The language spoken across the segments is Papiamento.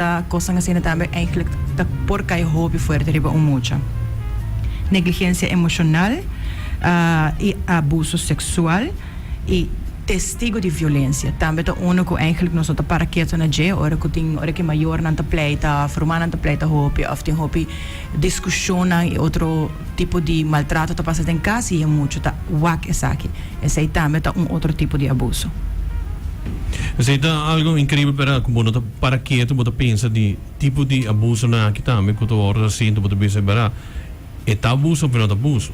Ta kosnan asina tambe eindelijk ta por kai hopi fuerte riba un mucha. Negligencia emocional y abuso sexual y testigo di violencia tambe ta uno cu eindelijk nos no ta para keto na dje ora cu tin ora cu mayornan ta pleita of rumannan ta pleita hopi of tin hopi discusionnan y otro tipo di maltrato ta pasa den cas y e mucha ta wak esaki. Esey tambe ta un otro tipo di abuso. Esey ta algo increíble pero cu bo no ta. Para ketu bo ta pensa di tipo di abusonan aki tambe ku ta wòrdu resiente bo ta bisa Bera e ta abuso òf e no ta abuso?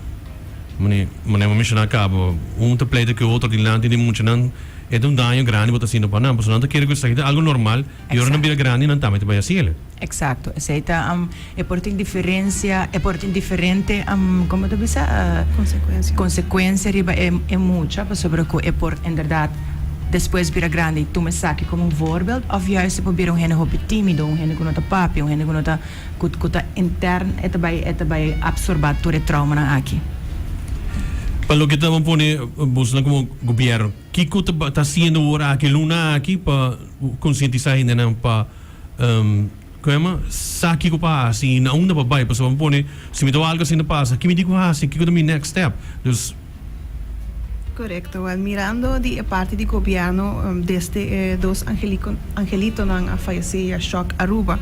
Mane mane'e bo menshoná kaba, un ta pleita ku e otro dilanti di muchanan, e ta un daño grandi bo ta haciendo pa nan, pasobra nan ta kere ku esaki ta algu normal i ora nan bira grandi nan tambe ta bai hasiel. Eksakto. Esei ta E por tin diferensia, e por tin diferente, como ta bisa? Consecuencia. Consecuencia riba e mucha, pasobra cu e por inderdaad despues bira grandi y tuma esaki como un voorbeeld, of juist e por bira un hende hopi timido, un hende cu no ta papia, un hende cu no ta, cu ta intern, e ta bay, e ta bay absorba tur e traumanan aki. Pa loke ta pone bosonan como Gobierno, kico ta haciendo ora aki, luna aki, pa concientisa hendenan pa. Koema sa kiko pa hasi i na unda pa bai pasobra mi pone si mi ta wak algu asina pasa ki mi tin ku hasi kiko ta mi next step dus. Korekto wèl mirando di e parti di gobièrnu desde e dos angeliko angelitonan a fayesé ya shòk Aruba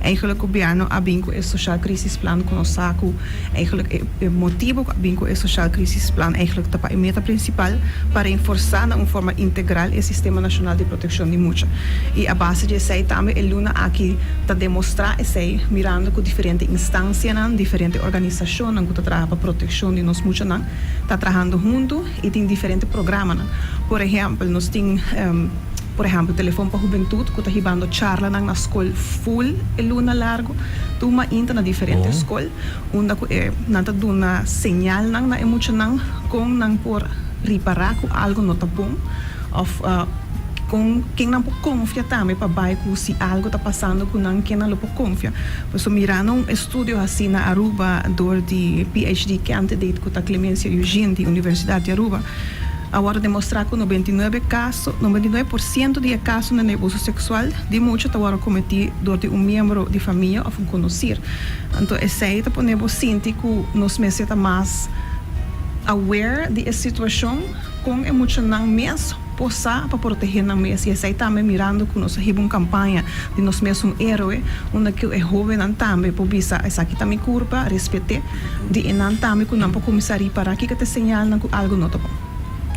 eigelik gobièrnu a bin ku e soshal krisis plan ku nos sa ku. Eigenlijk e motibo cu a bin cu e Sociaal Crisisplan eigenlijk ta pa e meta principal pa reenforsa na un forma integral e Sistema Nacional di Proteccion di Mucha. Y a base di esey tambe e luna aki ta demostra esey mirando cu diferente instancianan, diferente organisacionnan cu ta traha pa proteccion di nos muchanan ta trahando hunto y tin diferente programanan. Por ehempel nos tin. Por ehemplo, Telefon pa Hubentut cu ta hibando charlanan na scol full e luna largo, tuma inter na diferente scol, unda cu e nan ta duna señalnan na e muchanan con nan por ripara cu algo no ta bon of con ken nan por confia tambe pa bay cu si algo ta pasando cu nan ken nan lo por confia. Por eso mirando un estudio haci na Aruba door di PhD candidate cu ta Clemencia Eugene di Universidad di Aruba, A wòrdu demostrá ku nobenta i nuebe kaso, nobenta i nuebe por siento, di e kasonan di abuso seksual di mucha ta wòrdu kometí dor di un miembro di famia òf un konosí. Anto esei ta pone bo sinti ku nos mester ta mas aware di e situashon kon e muchanan mes por sa pa protehé nan mes. I esei tambe mirando ku nos a hiba un kampaña di nos mes un héroe unda ku e hóvennan tambe por bisa, Esaki ta mi kurpa, respet'é. di enan tambe ku nan por kuminsá ripará kiko ta e señalnan ku algu no ta bon.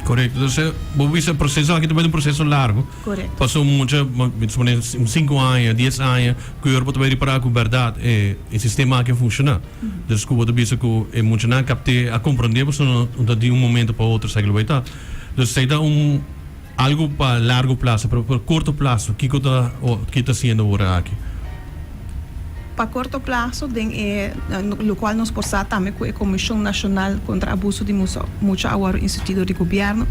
Korekto. Entonces, bo bisa e proseso aki ta bai na un proseso largu. Korekto. Pasó mucha, mi ta suponé un sinku aña, dies aña, ku yor bo ta bai ripará ku bèrdat e sistema aki a funshoná. Entonces, ku bo ta bisa ku e muchanan a kapt'é, a komprond'é, pasobra no ta di un momento pa otro esaki lo bai ta. Entonces, esei ta un Algo pa largo plaso, pero pa corto plaso kico ta ki ta haciendo ora aki? Pa corto plaso den e locual nos por sa tambe cu e Comision Nacional Contra Abuso di Mucha a wor instituido di Gobierno.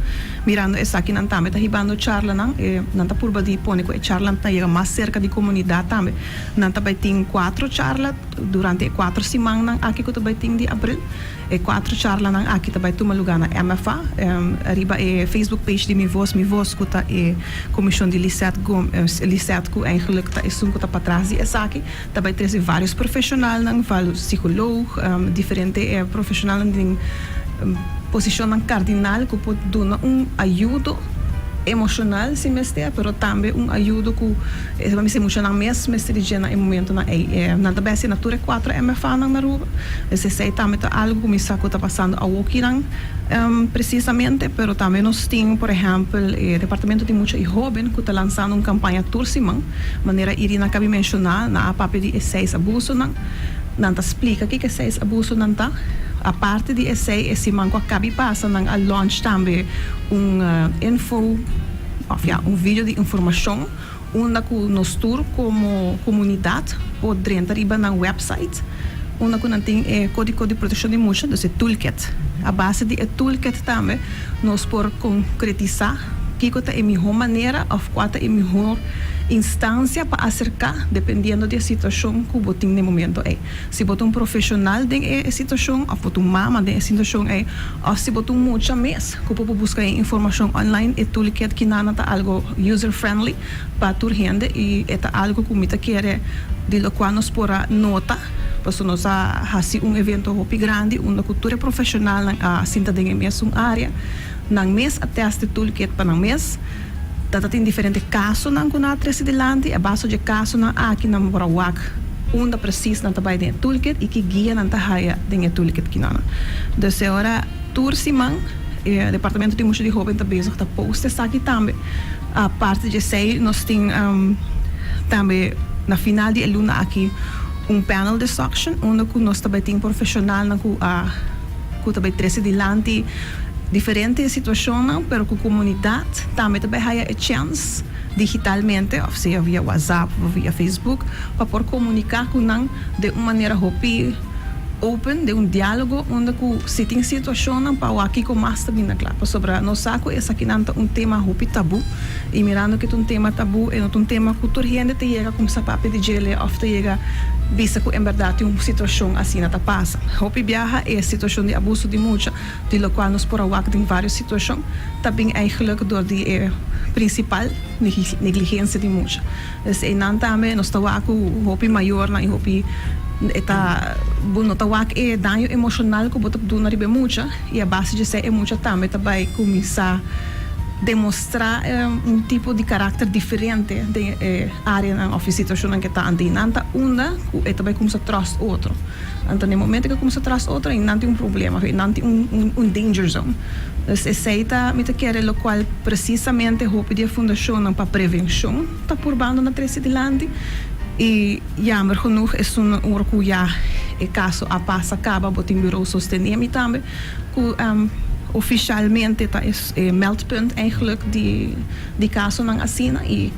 Mirando esaki nan tambe ta hibando charlanan. Nan ta purba di pone cu e charlanan ta yega mas cerca di comunidad tambe. Nan ta bay tin cuatro charla durante e cuatro simannan aki cu ta bay tin di abril. E kuater charlanan aki ta bai tuma lugá na MFA, riba e Facebook page di Mi Vos, Mi Vos, ku ta e komishon di Lisette Gomes, Lisette, ku eigenlik ta esun ku ta patras di esaki, ta bai trese vários profeshonalnan, sikolog, diferente profeshonalnan den posishonnan kardinal ku por duna un ayudo emoshonal si mester, pero tambe un ayudo ku. Esei pa mi sumucho nan mes mester di djena e momentonan ei. Nan ta bèstia na tur e kuater MFAnan na Aruba. Pues esei tambe ta algu ku mi sa ku ta pasando awokinan presisamente, pero tambe nos tin, por ehèmpel, e Departamento di Mucha i Hoben ku ta lansando un kampaña tur siman. Manera Irina a kabi menshoná, nan a papia di e seis abusonan. Nan ta splika kiko e seis abusonan ta. Aparte di esei, e siman ku a kabi pasa nan a launch tambe un info. òf ya un video di informashon unda ku nos tur komo komunidat por drenta riba nan wèpsait unda ku nan tin e Kódiko di Protekshon di Mucha, dus e Toolkit. A base di e Toolkit tambe nos por konkretisá kiko ta e mihó manera òf kua ta e mihó instansia pa aserká dependiendo di e situashon ku bo tin na e momentu ei. Si bo ta un profeshonal den e situashon òf bo ta un mama den e situashon ei, òf si bo ta un mucha mes ku por buska e informashon online, e Toolkit Kinana ta algu user friendly pa tur hende i e ta algu ku mi ta kere di lokual nos por a nota pasobra nos a hasi un evento hopi grandi unda ku tur e profeshonalnan a sinta den e mesun área. Nan mes a tèst e toolkit pa nan mes. Ta tin diferente kasonan ku nan a trese dilanti. A base dje kasonan aki nan por a wak unda presis nan ta bai den e toolkit i ki guia nan ta haya den e toolkit kinonan. Dus e ora tur siman e Departamento di Musha di Hoben ta bezig ta post esaki tambe. Aparte di esei nos tin tambe na final di e luna aki un panel discussion unda ku nos ta bai tin profeshonalnan ku a. ku ta bai trese dilanti diferente situashonnan pero ku komunidat tambe ta bai haya e chèns digitalmente òf sea via whatsapp òf via facebook pa por komuniká ku nan den un manera hopi open den un diálogo unda ku si tin situashonnan pa wak kiko mas ta bini na kla pasobra nos sa ku esakinan ta un tema hopi tabú Y mirando cu ta un tema tabú, e no ta un tema cu tur hende ta yega cuminsa papia di djel'e of ta yega bisa cu en berdad tin un situacion asina ta pasa. Hopi biaha e situacion di abuso di mucha, di locual nos por a wak den varios situacion, ta bin eigenlijk door di e principal negligencia di mucha. Pues einan tambe nos ta wak cu hopi mayornan y hopi e ta bo no ta wak e daño emocional cu bo ta duna riba e mucha y a base di esey e mucha tambe ta bay cuminsa demos. Stra e un tipo di karakter diferente den e áreanan òf e situashonnan ku e ta anto i nan ta unda ku e ta bai kuminsá tròst otro. Anto den e momentu ku e kuminsá tròst otro i nan tin un problema òf i nan tin un danger zone. Pues esei ta mi ta kere lokual presisamente hopi di e fundashonnan pa prevenshon ta purbando na trese dilanti i yamber genoeg esun ora ku ya e kaso a pasa kaba bo tin Birou Sosteniemi tambe Cu oficialmente ta e meldpunt eigenlijk di casonan asina y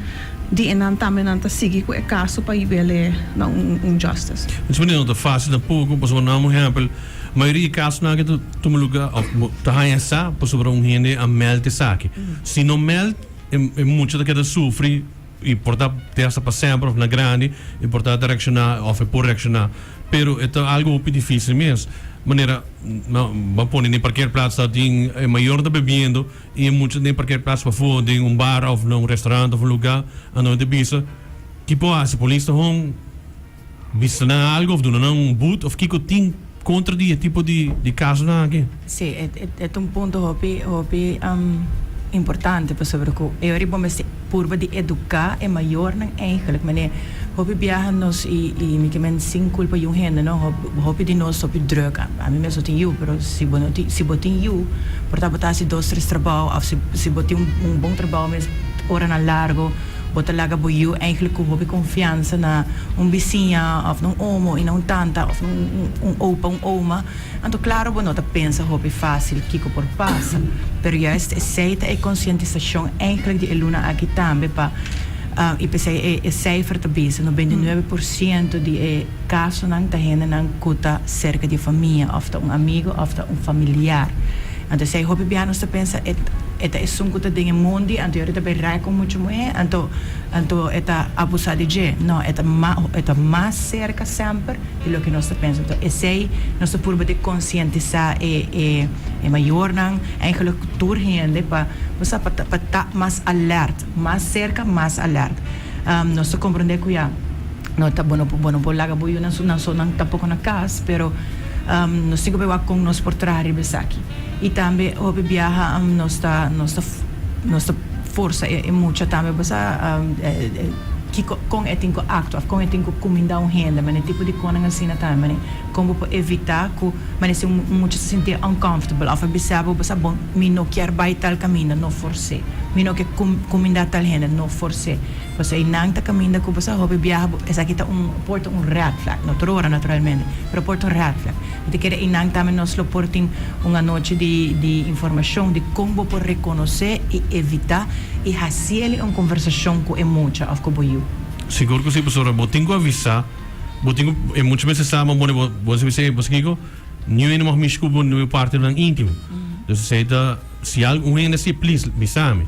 di enan tambe nan ta sigui cu e caso pa yibe'le na un justice. Mos manera no ta facil tampoco, pasobra nan un ehempel, mayoria di casonan aki ta tuma luga of ta haña sa pasobra un hende a meld esaki. Si no meld e mucha ta keda sufri. y por ta te hasta pa semper of na grandi y por ta ta reacciona of e por reacciona pero e ta algo hopi dificil mes manera nan pone na e parker plats ta tin e mayornan ta bebiendo y e mucha den parker plats pafor den un bar of na un restaurant of un lugar anto nan ta bisa ki por haci polis ta hon. Bisa nan algo of duna nan un boet of kiko tin contra di e tipo di casonan aki. Sí, e ta un punto hopi hopi importante pasobra cu e ora y bo mester purba di educa e mayornan eigenlijk mane hopi biaha nos y y mi ke men sin culpa yu hende no hopi di nos hopi drug ami mes no tin yu pero si bo no tin si bo tin yu por ta bo ta haci dos tres trabao of si bo tin un bon trabao mes oranan largo. Bo ta laga bo yu eigenlijk ku hopi konfiansa na un bisiña òf na un omo i na un tanta òf na un opa, un oma. Anto klaro bo no ta pensa hopi fásil kiko por pasa. Pero juist esei ta e konsientisashon eigenlijk di e luna aki tambe pa i p'esei e seifer ta bisa no bende nuebe por siento di e kasonan ta hendenan ku ta serka di e famia òf ta un amigu òf ta un familiar. Anto esei hopi biaha nos ta pensa e e ta esun ku ta den e mundi, anto yori ta bai rai ku muchu muhé, anto anto e ta abusá di dje. No, e ta ma e ta mas serka semper di loke nos ta pensa. Anto esei nos ta purba di konsientisá e e e mayornan, eigelik tur hende pa kusap pa ta pa ta mas alert, mas serka, mas alert. Nos ta komprondé ku ya. No ta bo no bo no por laga bo yu nan su nan so nan tampoco na cas pero nos tin cu averigua con nos por traha riba esaki y tambe hopi biaha nos ta nos ta nos ta forsa e mucha tambe bo sa kico con e tin cu actua of con e tin cu cuminda un hende mane tipo di conan asina tambe mane con bo por evita cu mane si un mucha ta sinti e uncomfortable of a bisa bo bo sa bon mi no kier bay tal caminda no fors'e mi no kier cuminda tal hende no fors'e. Pasobra y nan ta caminda cu boso a hopi biaha bo esaki ta un por ta un red flag no tur ora naturalmente pero por ta un red flag y ta kere y nan tambe nos lo por tin un anochi di di informacion di con bo por reconoce y evita y haci eli un conversacion cu e mucha of cu bo yu. Sigur cu si pasobra bo tin cu avisa bo tin cu e mucha mester sa man bone bo bo a sibi esey pasobra kico niuey no mag mishi cu bo niuey partenan intimo entonces esey ta. Si algun hende si, Plis, bisa mi.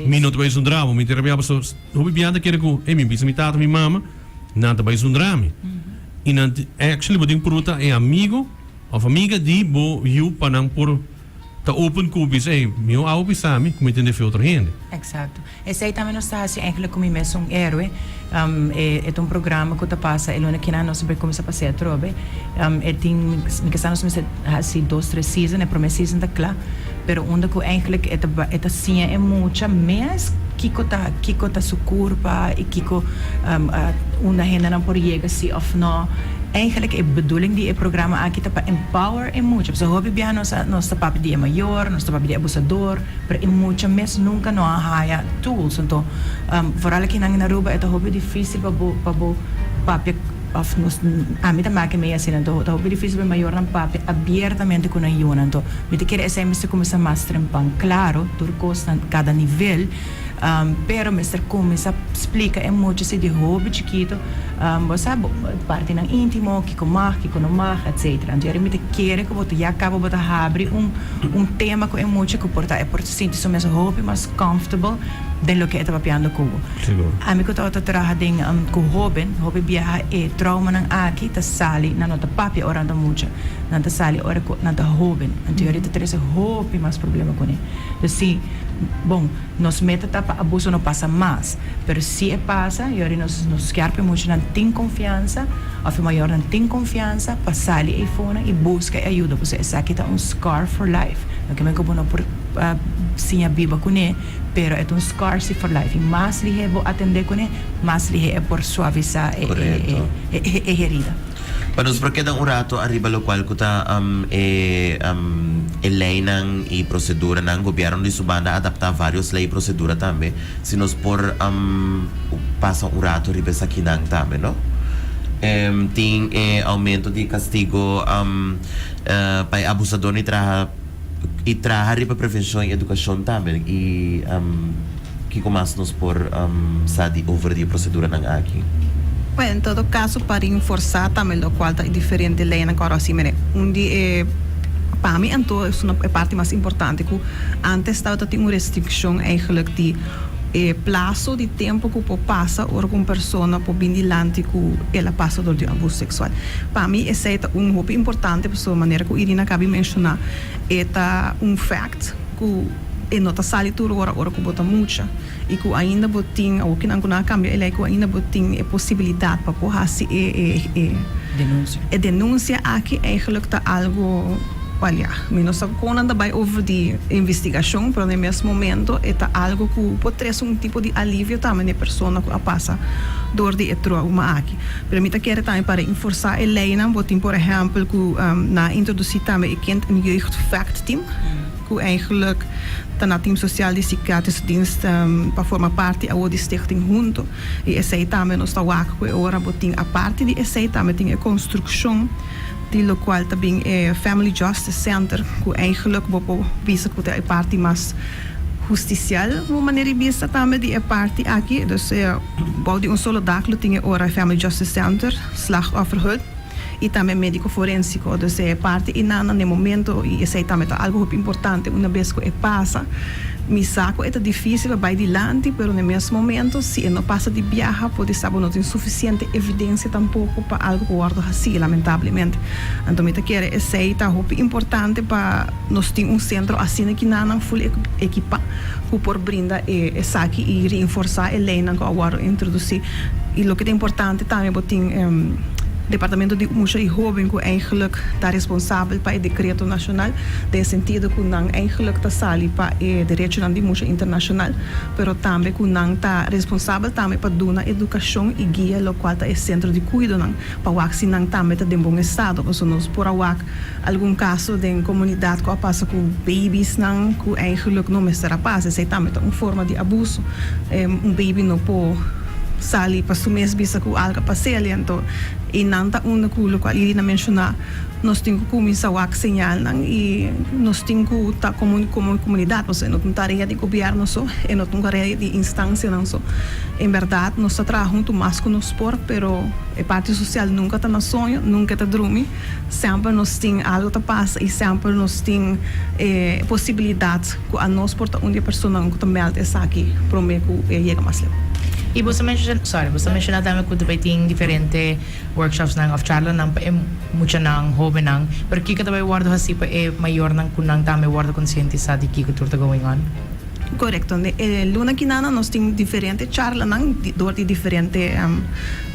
Mi no ta bai zundra bo. Mi ta rebiaba. So, hopi bia ta kere ku, Ey, mi bisa mi tata, mi mama, nan ta bai zundra mi. I nan, actually, bo tin ku purgunta e amigu òf amiga di bo yu pa nan por ta open ku bo bisa, Ey, mi a hopi sa mi ku mi ta defé otro hende. Eksakto. Esei tambe nos ta hasi enkele ku mi mes un eroe. E ta un programa ku ta pasa e luna kinan nos a bai kuminsá pasea atrobe. E tin mi kasa nos mester hasi dos tres season, e promé season ta kla, pero unda ku enkele e ta bai e ta siña e mucha mes kiko ta kiko ta su kurpa i kiko unda hendenan por yega si òf nò. Enkele e bedoeling di e programa aki ta pa empower e mucha, pasobra hopi biaha nos a nos ta papia di e mayor, nos ta papia di e abusador. Pero e mucha mes nunca no a haya tools anto vooral akinan in Aruba e ta hopi dificil pa bo pa bo papia of nos ami ta make mei asina anto ta hopi dificil pa e mayornan papia abiertamente cu nan yunan anto mi ta kere esey mester cuminsa mas trempan claro tur cosnan cada nivel pero mester cuminsa splica e mucha si di hopi chikito bo sa bo partinan intimo kico mag kico no mag etcetera anto yari mi ta kere cu bo ta ya cabo bo ta habri un. Un tema cu e mucha cu por ta e por sinti su mes hopi mas comfortable den loke e ta papiando cu bo. Ami cu tabata traha den cu hoben, hopi biaha e traumanan aki ta sali nan no ta papia ora nan ta mucha, nan ta sali ora cu nan ta hoben. Anto yo a rita trece hopi mas problema cune. Pues si, bon. Nos meta ta pa abuso no pasa mas, pero si e pasa, yori nos nos kier pa e muchanan tin konfiansa of e mayornan tin konfiansa pa sali eyfuna y buska e ayuda pasobra esaki ta un scar for life. No ke men ku bo no por siña biba kuné, pero e ta un scar si for life y mas lihé bo atendé kuné, mas lihé e por suavisá e herida. Pa nos por keda un rato ariba lokual ku ta e e leinan i proseduranan. Gobièrnu di su banda a adaptá vários lei i prosedura tambe. Si nos por pasa un rato riba esakinan tambe no. Tin e aumento di kastigo pa e abusadónan di traha. y traha riba prevencion y educacion tambe y kico mas nos por sa di over di e proceduranan aki? Bueno, en todo caso pa rinforsa tambe locual ta e diferente leynan cu a Rosy mene. Un di e, pa mi anto, es una e parti mas importante cu antes tabata tin un restriccion eigenlijk di e plazo di tempo cu por pasa ora cu un persona por bin dilanti cu el a pasa dor di un abuso sexual. Pa mi esey ta un hopi importante. So manera ku Irina a kabi menshoná, e ta un fèkt ku e no ta sali tur ora ora ku bo ta mucha i ku ainda bo tin, awor kinan ku nan a kambia e lei, ku ainda bo tin e posibilidat pa bo hasi e. Denunsia. E denunsia aki eigenlik ta algu, wèl ya, mi no sa kon nan ta bai over di investigashon, pero na e mes momento e ta algu ku por trese un tipo di alivio tambe na e persona ku a pasa dor di e trouma aki. Pero mi ta kere tambe pa reinforsa e leinan bo tin por ehempel ku na introdusí tambe e Kind en Jeugdvechtteam ku eigenlijk ta na Team Sosial di Sikiatrisch Dienst pa forma parti awor di Stichting Hunto i esei tambe nos ta wak ku e ora bo tin aparte di esei tambe tin e konstrukshon di locual ta bin e Family Justice Center, cu eigenlijk bo por bisa cu ta e parti mas justicial, un manera di bisa, tambe di e parti aki. Dus bou di un solo dak lo tin e ora e Family Justice Center, Slachtofferhut y tambe Medico Forensico. Dus e parti einan na e momento, y esey tambe ta algo hopi importante una bes cu e pasa, Mi sa cu e ta dificil pa bay dilanti, pero n'e mes momento, si e no pasa di biaha, por di sa bo no tin suficiente evidencia tampoco pa algo por wordo haci, lamentablemente. Anto mi ta kere esey ta hopi importante pa nos tin un centro asina kinanan full ekipa cu por brinda e esaki y reinforsa e leynan cu a wordo introduci. Y loke ta importante tambe bo tin e Departamento di Musha y Hoben cu eigenlijk ta responsabel pa e decreto nacional. den sentido cu nan eigenlijk ta sali pa e derechonan di musha internacional, pero tambe cu nan ta responsabel tambe pa duna educacion y guia locual ta e centro di cuidonan, pa wak si nan tambe ta den bon estado. Pasobra nos por a wak algun caso den comunidad cu a pasa cu baby'snan cu eigenlijk no mester a pasa, esey tambe ta un forma di abuso. Un baby no por sali pa su mes bisa cu algo a pas'el y anto y nan ta unda cu locual Irina menciona, Nos tin cu cuminsa wak señalnan y nos tin cu ta como como comunidad, nos e no tin tarea di gobierno so, e no tin tarea di instancianan so. En berdad nos ta traha hunto mas cu nos por, pero e parti social nunca ta na soño, nunca e ta drumi. Semper nos tin algo ta pasa y semper nos tin e posibilidad cu anos por ta un di e personanan cu ta meld esaki prome cu e a yega mas leu. Y boso menciona, sorry, boso menciona tambe cu bai tin diferente. Workshopsnan of charlanan pa e muchanan, hobennan, pero kiko ta bay wordo hasi pa e mayornan cu nan tambe wordo concientisá di kiko tur ta going on? Corecto. E luna kinana nos tin diferente charlanan door di diferente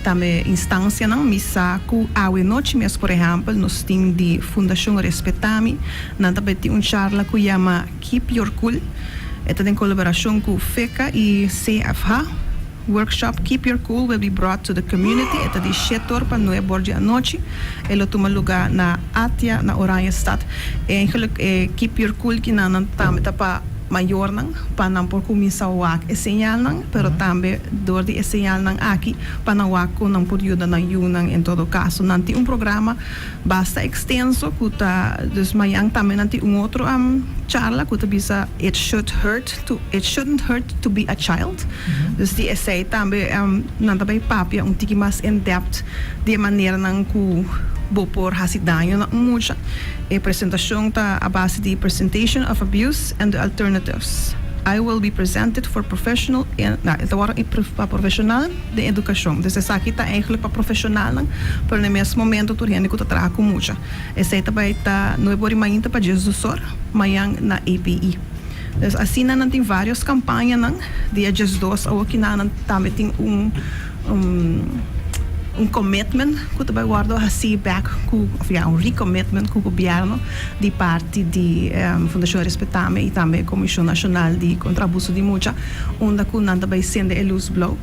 tambe instancianan. Mi sa cu awe nochi mes, por ehempel, nos tin di Fundacion Respetami, nan ta bay tin un charla cu yama Keep Your Cool. E ta den colaboracion cu FECA y CFH. Workshop Keep Your Cool will be brought to the community e ta di shét tor pa nue bor di anochi. E lo tuma lugá na Atia na Oranjestad. Eigenlik e Keep Your Cool kinan nan tambe ta pa mayornan pa nan por kuminsá wak e señalnan, pero tambe dor di e señalnan aki pa nan wak kon nan por yuda nan yunan. En todo kaso nan tin un programa basta ekstenso ku ta, dus mañan tambe nan tin un otro charla ku ta bisa It Should Hurt. to It shouldn't hurt to be a child. Dus di esei tambe nan ta bay papia un tiki mas en depth di e maneranan cu bo por haci daño na un mucha. E presentacion ta a base di Presentation of abuse and the alternatives. I will be presented for professional en nah, e ta worde pa profesional den educacion. Dus esaki ta eigenlijk pa profesionalnan, pero na e mes momento tur hende cu ta traha cu mucha. Esei ta bay ta, no e bor di mainta pa Jesusor, mayan na APE. Pues asina nan tin varios campañanan, di e diesdos awoki na nan tambe tin un un commitment cu ta bay wordo haci back cu of ya un recommitment cu gobierno di parti di Fundacion Respetame y tambe Comision Nacional di Contra Abuso di Mucha unda cu nan ta bay cende e luz blauw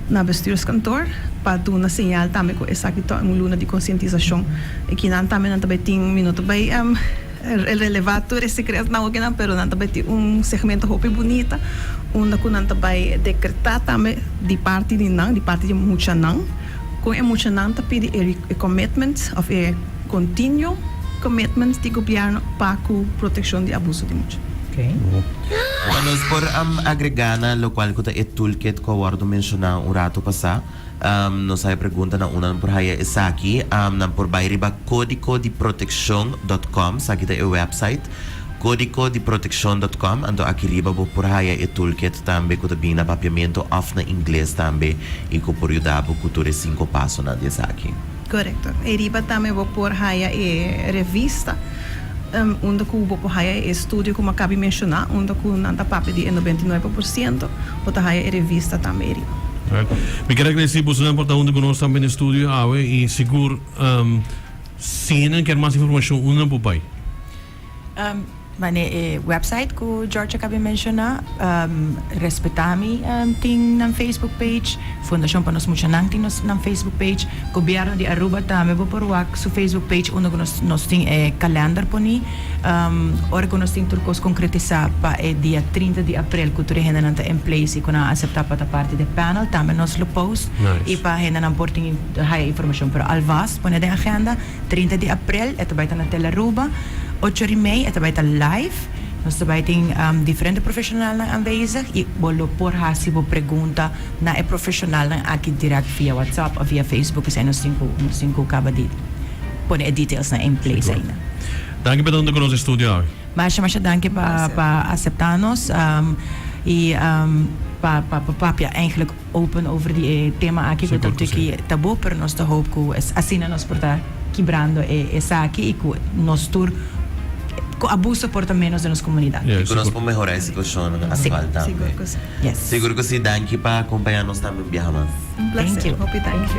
na bestuurskantoor pa duna señal tambe cu esaki ta un luna di concientisacion y kinan tambe nan ta bay tin mi no ta bay El releva tur e secretnan oke nan pero nan ta bai tin un segmento hopi bunita unda cu nan ta bai decreta tambe di parti di nan, di parti di muchanan con e muchanan ta pidi e commitments of e continuo commitments di gobierno pa cu proteccion di abuso di mucha. Nos por agrega na locual cu ta e toolkit cu a wordo menciona un rato pasa. Nos a pregunta na unda nan por haya esaki. Nan por bai riba codicodiproteccion.com, esaki ta e website, codicodiproteccion.com, anto aki riba bo por haya e toolkit tambe cu ta bini na Papiamento of na Ingles tambe y cu por yuda bo cu tur e cinco pasonan di esaki. Corecto. E riba tambe bo por haya e revista. Unda ku bo por haya e estudio ku mi a kabi menshoná, unda ku nan ta papia di e noventa i nuebe por siento, bo ta haya e revista tambe eri. Mi ker agradesí bosonan por ta huntu ku nos tambe na e studio awe i sigur si nan ker mas informashon unda nan por bai? Bai na e website ku George a kabi menshoná. Respetami tin nan facebook page. Fundacion pa nos muchanan tin nos nan Facebook page. Gobierno di Aruba tambe bo por wak su Facebook page unda cu nos tin e calendar poni ora cu nos tin tur cos concretisa pa e dia trinta di april cu tur e hendenan ta en place y cu nan a acepta pa ta parti den panel tambe nos lo post y pa hendenan por tin haya informacion pero alvast pone den agenda trinta di april e ta bay ta na Tel Aruba ocho ora y mei e ta bay ta live nos ta bay tin diferente profesionalnan anwezig y bo lo por haci bo pregunta Na e profesionalnan aki direct via WhatsApp of via Facebook esei nos tin cu nos tin cu caba di pone e detailsnan in place ainda. Danki pa tando cu nos estudio awe. Masha masha danki pa pa acepta nos y pa pa papia eigenlijk open over di e tema aki cu ta tuki tabu pero nos ta hoop cu es asina nos por ta kibrando e esaki y cu nos tur cu abuso por ta menos den nos comunidad. Y cu nos por mehora e situacion actual tambe. Yes. Seguro cu si, danki pa acompaña nos tambe un biaha mas. Un placer. Thank you. Hopi danki.